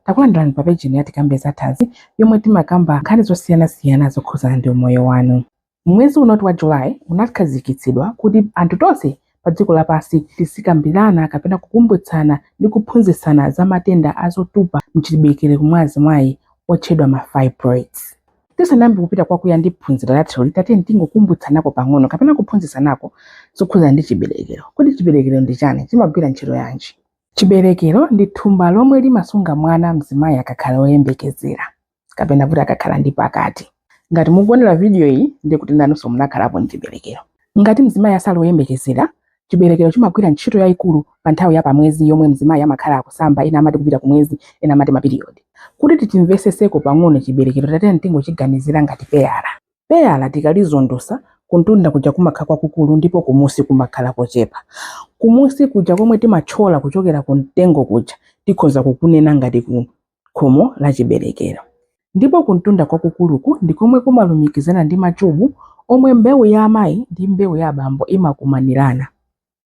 Takulandirani pa pejini ya Tikambe za Thanzi yomwe timakamba nkhani zosiyanasiyana zokhudzana ndi umoyo wanu. Mwezi uno wa July unakhazikitsidwa kuti anthu tonse pa dziko lapansi tizikambirana kapena kukumbutsana ndi kuphunzitsana za matenda a zotupa mchiberekero mwa azimayi otchedwa ma fibroids. Tisanayambe kupita kwakuya ndi phunziro lathuli, tatiyeni tingokumbutsanako pang'ono kapena kuphunzitsanako zokhudzana ndi chiberekero. Kodi chiberekero ndi chani? Chimagwira ntchito yanji? Chiberekero ndi thumba lomwe limasunga mwana mzimayi akakhala oyembekezera kapena kuti akakhala ndi pakati. Ngati mukuonera vidiyo iyi ndiye kuti nanunso munakhalapo mchiberekero. Ngati mzimayi asali oyembekezera, chiberekero chimagwira ntchito yayikulu pa nthawi ya pamwezi yomwe mzimayi amakhala akusamba ena amati kupita kumwezi ena amati mapiriyodi. Kuti tichimveseseko pang'ono chiberekero tatiyeni tingochiganizira ngati peyala. Peyala tikalizondosa, kuntunda kuja kumakhala kwakukulu ndipo kumusi kumakhala kochepa. Kumusi kuja komwe timathyola kuchokera ku mtengo kuja tikhoza kukunena ngati ku khomo la chiberekero. Ndipo kuntunda kwakukuluku ndi komwe kumalumikizana ndi machubu omwe mbewu ya amayi ndi mbewu ya abambo imakumanirana.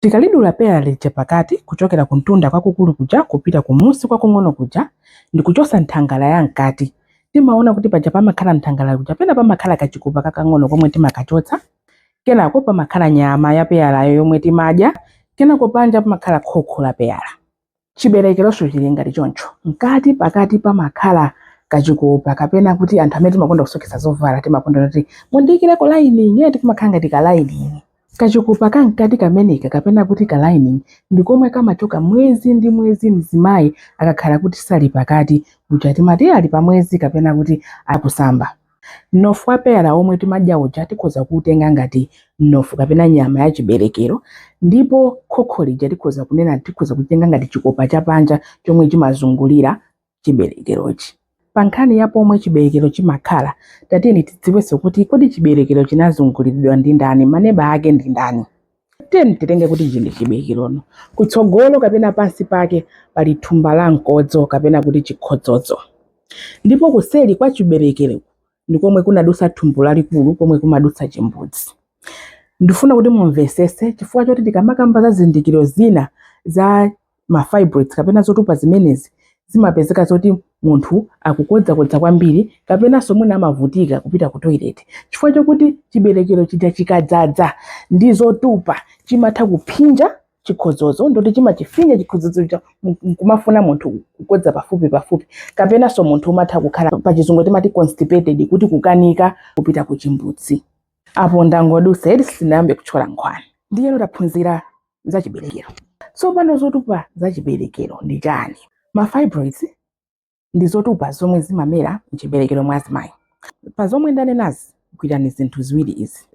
Tikalidula peyala lija pakati kuchokera kumtunda kwakukulu kuja kupita kumusi kwakung'ono kuja ndi kuchotsa nthangala ya mkati, timaona kuti paja pamakhala nthangala kuja pena pamakhala kachikopa kakang'ono komwe timakachotsa, kenako pamakhala nyama ya peyalayo yomwe timadya, kenako panja pamakhala khokho la peyala. Chiberekeronso chili ngati choncho. Mkati pakati pamakhala kachikopa kapena kuti anthu amene timakonda kusoketsa zovala timakonda kuti mundiikireko lining eti kumakhala ngati ka lining. Kachikopa ka mkati kameneka kapena kuti ka lining ndi komwe kamachoka mwezi ndi mwezi mzimayi akakhala kuti sali pakati, kuja timati ali pamwezi kapena kuti akusamba. Mnofu wa peyala omwe timadya uja tikhoza kuutenga ngati mnofu kapena nyama ya chiberekero ndipo khokho lija tikhoza kunena tikhoza kutenga ngati chikopa cha panja chomwe chimazungulira chiberekerochi. Pa nkhani ya pomwe chiberekero chimakhala, tatiyeni tidziwenso kuti kodi chiberekero chinazunguliridwa ndi ndani, maneba ake ndi ndani? Tiyeni titenge kuti ichi ndi chiberekerono. Kutsogolo kapena pansi pake pali thumba la mkodzo kapena kuti chikhodzodzo, ndipo kuseri kwa chiberekero ndi komwe kunadusa thumbu lalikulu komwe kumadutsa chimbudzi. Ndifuna kuti mumvesese chifukwa choti tikamakamba za zizindikiro zina za ma fibroids kapena zotupa zimenezi zimapezeka zoti munthu akukodzakodza kwambiri kapenanso mwina amavutika kupita ku toilet chifukwa chokuti chiberekero chija chikadzadza ndi zotupa chimatha kuphinja chikhodzodzo nkuti chimachifinya chikhodzodzo chija kumafuna munthu kukodza pafupi pafupi kapenanso munthu umatha kukhala pa chizungu timati constipated kuti kukanika kupita ku chimbudzi apo ndangodusa eti sinayambe kutchola nkhwani ndiyeno taphunzira za chiberekero tsopano zotupa za chiberekero ndi chani ma fibroids ndi zotupa zomwe zimamera mchiberekero mwa azimayi pa zomwe ndanenazi gwirani zinthu ziwiri izi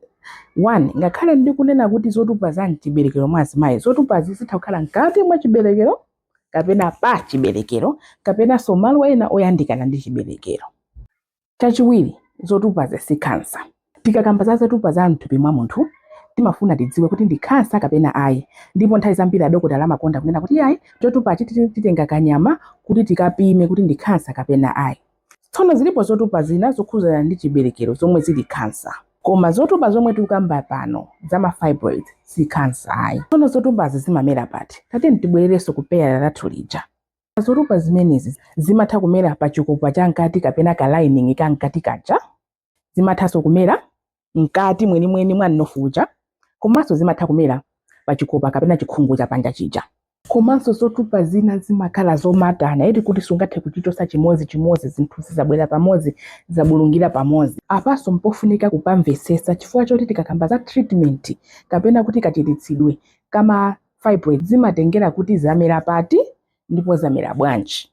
one ngakhale ndikunena kuti zotupa za mchiberekero mwa azimayi zotupazi zitha kukhala mkati mwa chiberekero kapena pa chiberekero kapenanso malo ena oyandikana ndi chiberekero Chachiwiri, zotupazi si khansa. Tikakamba za zotupa za m'thupi mwa munthu, timafuna tidziwe kuti ndi khansa kapena ayi. Ndipo nthawi zambiri adokotala amakonda kunena kuti iyayi, chotupachi titenga kanyama kuti tikapime kuti ndi khansa kapena ayi. Tsono zilipo zotupa zina zokhudzana ndi chiberekero zomwe zili khansa. Koma zotupa zomwe tikukamba pano za ma fibroids si khansa ayi. Tsono zotupazi zimamera pati? Tatiyeni tibwererenso ku peyala lathu lija. Zotupa zimenezi zimatha kumera pa chikopa cha mkati kapena ka lining ka mkati kaja. Zimathanso kumera mkati mwenimweni mwa mnofu uja komanso zimatha kumera pa chikopa kapena chikhungu cha panja chija. Komanso zotupa zina zimakhala zomatana eti kuti sungathe kuchichotsa chimodzi chimodzi, zinthu zija zabwera pamodzi zabulungira pamodzi. Apanso mpofunika kupamvetsetsa chifukwa choti tikakamba za treatment kapena kuti kachiritsidwe kama Fibroids zimatengera kuti zamera pati ndipo zamera bwanji.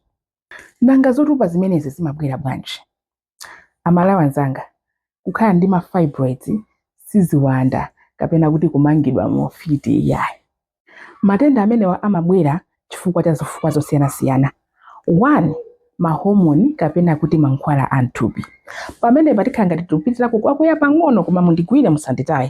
Nanga zotupa zimenezi zimabwera bwanji? Amalawi anzanga, kukhala ndi ma fibroids si ziwanda kapena kuti kumangidwa mu ufiti iyayi. Matenda amenewa amabwera chifukwa cha zifukwa zosiyanasiyana. 1 mahomoni kapena kuti mankhwala a mthupi pamenepa tikhala ngati tikupitirako kwakuya pang'ono koma mundigwire musanditaye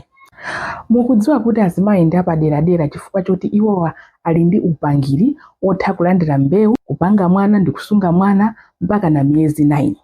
mukudziwa kuti azimayi ndi apaderadera chifukwa choti iwowa ali ndi upangiri wotha kulandira mbewu kupanga mwana ndi kusunga mwana mpaka na miyezi 9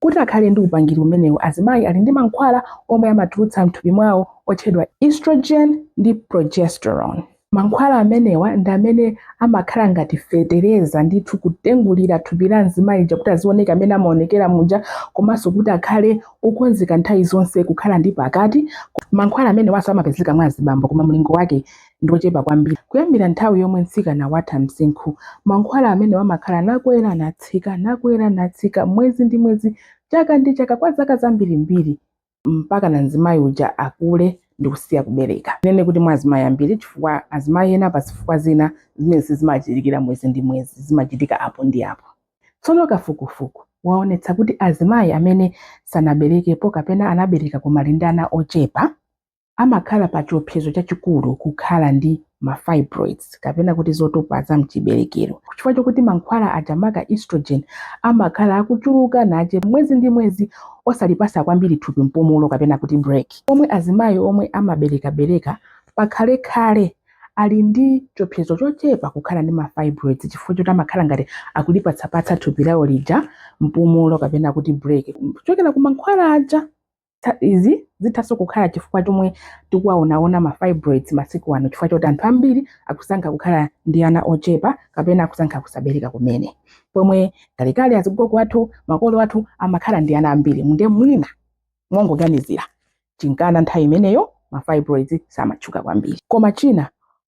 Kuti akhale ndi upangiri umenewu azimayi ali ndi mankhwala omwe amatulutsa m'thupi mwawo otchedwa estrogen ndi progesterone. Mankhwala amenewa ndi amene amakhala ngati fetereza ndithu kutengulira thupi la mzimayi lija kuti azioneka mmene amaonekera muja komanso kuti akhale okonzeka nthawi zonse kukhala ndi pakati. Mankhwala amenewanso amapezeka mwa azibambo koma mlingo wake ndi ochepa kwambiri. Kuyambira nthawi yomwe mtsikana watha msinkhu, mankhwala amenewa amakhala nakwera natsika, nakwera natsika, mwezi ndi mwezi, chaka ndi chaka, kwa zaka zambirimbiri mpakana mzimayi uja akule ndi kusiya kubereka. Tinene kuti mwa azimayi ambiri, chifukwa azimayi ena pa zifukwa zina zimenezi sizimachitika mwezi ndi mwezi, zimachitika apo ndi apo. Tsono kafukufuku waonetsa kuti azimayi amene sanaberekepo kapena anabereka koma ali ndi ana ochepa, amakhala pa chiopsezo chachikulu kukhala ndi ma fibroids kapena kuti zotupa za mchiberekero chifukwa chokuti mankhwala aja maka estrogen amakhala akuchuluka nache mwezi ndi mwezi osalipasa kwambiri thupi mpumulo kapena kuti break omwe azimayi omwe amaberekabereka pakhalekhale ali ndi chiopsezo chochepa kukhala ndi ma fibroids chifukwa choti amakhala ngati akulipatsapatsa thupi lawo lija mpumulo kapena kuti break kuchokera ku mankhwala aja izi zithanso kukhala chifukwa chomwe tikuwaonaona ma fibroids masiku ano chifukwa choti anthu ambiri akusankha kukhala ndi ana ochepa kapena akusankha kusabereka kumene pomwe kalekale azigogo athu makolo athu amakhala ndi ana ambiri munde mwina mongoganizira chinkana nthawi imeneyo ma fibroids samatchuka kwambiri koma china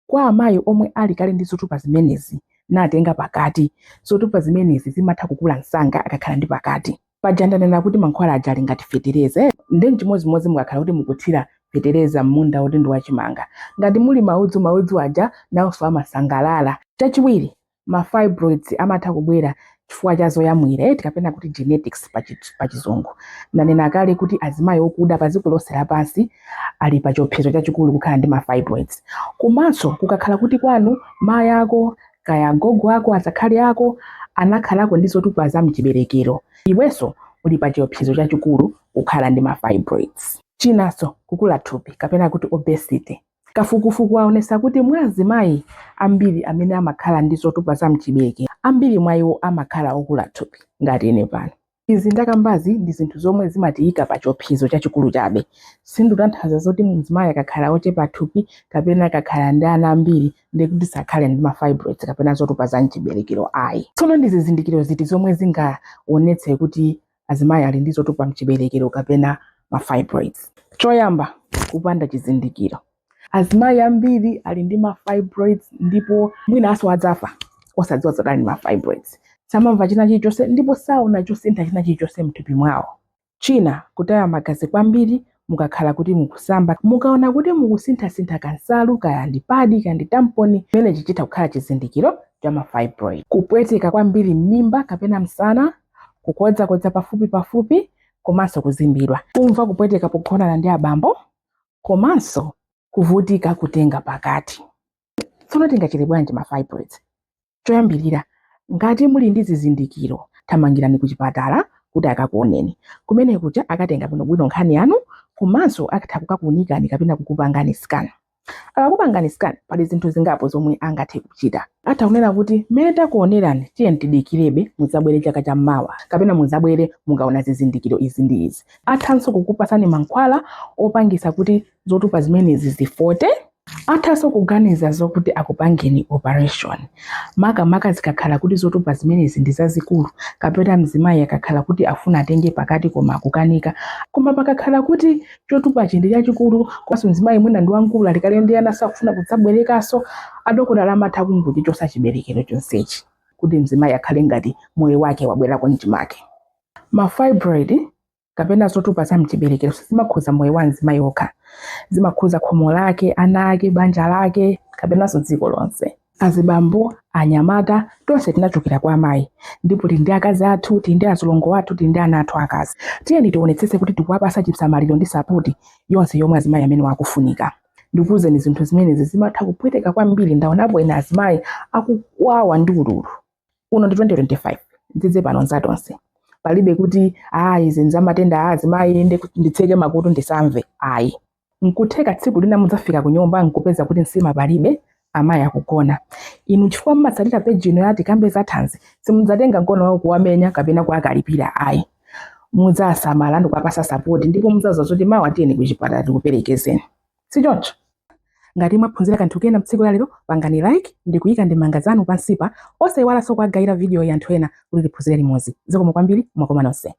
kwa amayi omwe ali kale ndi zotupa zimenezi natenga pakati, zotupa zimenezi zimatha kukula msanga akakhala ndi pakati. Paja ndanena kuti mankhwala aja ali ngati fetereza, nde nchimodzimodzi mukakhala kuti mukuthira fetereza m'munda woti ndi wachimanga. Ngati muli maudzu, maudzu aja nawonso amasangalala. Chachiwiri, ma fibroids amatha kubwera chifukwa cha zoyamwira eti kapena kuti genetics pa chizungu ndanena kale kuti azimayi okuda pa dziko lonse lapansi ali pa chiopsezo chachikulu kukhala ndi ma fibroids komanso kukakhala kuti kwanu mayi ako kaya gogo ako azakhali ako anakhalako ndi zotupa za mchiberekero iwenso uli pa chiopsezo chachikulu kukhala ndi ma fibroids chinanso kukula thupi kapena kuti obesity Kafukufuku waonesa kuti mwa azimayi ambiri amene amakhala ndi zotupa za mchiberekero, ambiri mwa iwo amakhala okula thupi, ngati ine pano. Izi ndakambazi ndi zinthu zomwe zimatiyika pa chiopsezo chachikulu chabe. Sindikutanthauza zoti mzimayi akakhala ochepa thupi kapena akakhala ndi ana ambiri ndiye kuti sakhale ndi ma fibroids kapena zotupa za mchiberekero ayi. Tsono ndi zizindikiro ziti zomwe zingaonetse kuti azimayi ali ndi zotupa mchiberekero kapena ma fibroids choyamba kupanda chizindikiro azimayi ambiri ali ndi ma fibroids ndipo mwinanso adzafa osadziwa zoti ali ndi ma fibroids samamva china chilichonse ndipo saona chosintha china chilichonse mthupi mwawo china kutaya magazi kwambiri mukakhala kuti mukusamba mukaona kuti mukusinthasintha kansalu kaya ndi padi kaya ndi tamponi chimenechi chitha kukhala chizindikiro cha mafibroid kupweteka kwambiri m'mimba kapena msana kukodzakodza pafupi pafupi komanso kuzimbidwa kumva kupweteka pogonana ndi abambo komanso kuvutika kutenga pakati tsono tingachize bwanji ma fibroids choyambirira ngati muli ndi zizindikiro thamangirani ku chipatala kuti akakuoneni kumene kuja akatenga bwinobwino nkhani yanu komanso atha kukakuunikani kapena kukupangani scan akakupangani scan pali zinthu zingapo zomwe angathe kuchita atha kunena kuti mmene takuonerani tiye tidikirebe mudzabwere chaka cha mmawa kapena mudzabwere mukaona zizindikiro izi ndi izi athanso kukupasani mankhwala opangisa kuti zotupa zimenezi zifote athaso kuganiza zokuti akupangeni operation makamaka zikakhala kuti zotupa zimenezi ndi zazikulu kapena mzimayi akakhala kuti afuna atenge pakati koma akukanika koma pakakhala kuti chotupachi ndi chachikulu komanso mzimayi mwina ndi wamkulu ali kale ndi ana sakufuna kudzaberekaso adokotala amatha kungochichotsa chiberekero chonsechi kuti mzimayi akhale ngati moyo wake wabwerako mchimake ma fibroid kapena zotupa za mchiberekero sizimakhuza moyo wa mzimayi okha zimakhuza khomo lake ana ake banja lake kapenanso dziko lonse azibambo anyamata tonse tinachokera kwa amayi ndipo tili ndi akazi athu tili ndi azilongo athu tili ndi ana athu akazi tiyeni tionetsetse kuti tikuwapatsa chisamaliro ndi sapoti yonse yomwe azimayi amenewa akufunika ndikuwuzeni zinthu zimenezi zimatha kupweteka kwambiri ndaonapo ena azimayi akukwawa ndi ululu uno ndi 2025 n'dzidze pano nzatonse palibe kuti ayi izi nzamatenda a azimayi nditseke makutu ndisamve ayi nkutheka tsiku lina mudzafika ku nyumba nkupeza kuti nsima palibe amayi akugona inu chifukwa mumatsatira peji ino ya Tikambe za thanzi simudzatenga mkono wawo kuwamenya kapena kuwakalipira ayi mudzasamala ndikuwapasa sapoti ndipo mudzauza zoti mawa tiyeni kuchipatala tikuperekezeni si choncho? Ngati mwaphunzira kanthu kena m'tsiku la lero, pangani like ndi kuika ndemanga zanu pansipa, osaiwalanso kuwagayira vidiyoyi anthu ena kuti tiphunzire limodzi. Zikomo kwambiri, mwakoma nonse.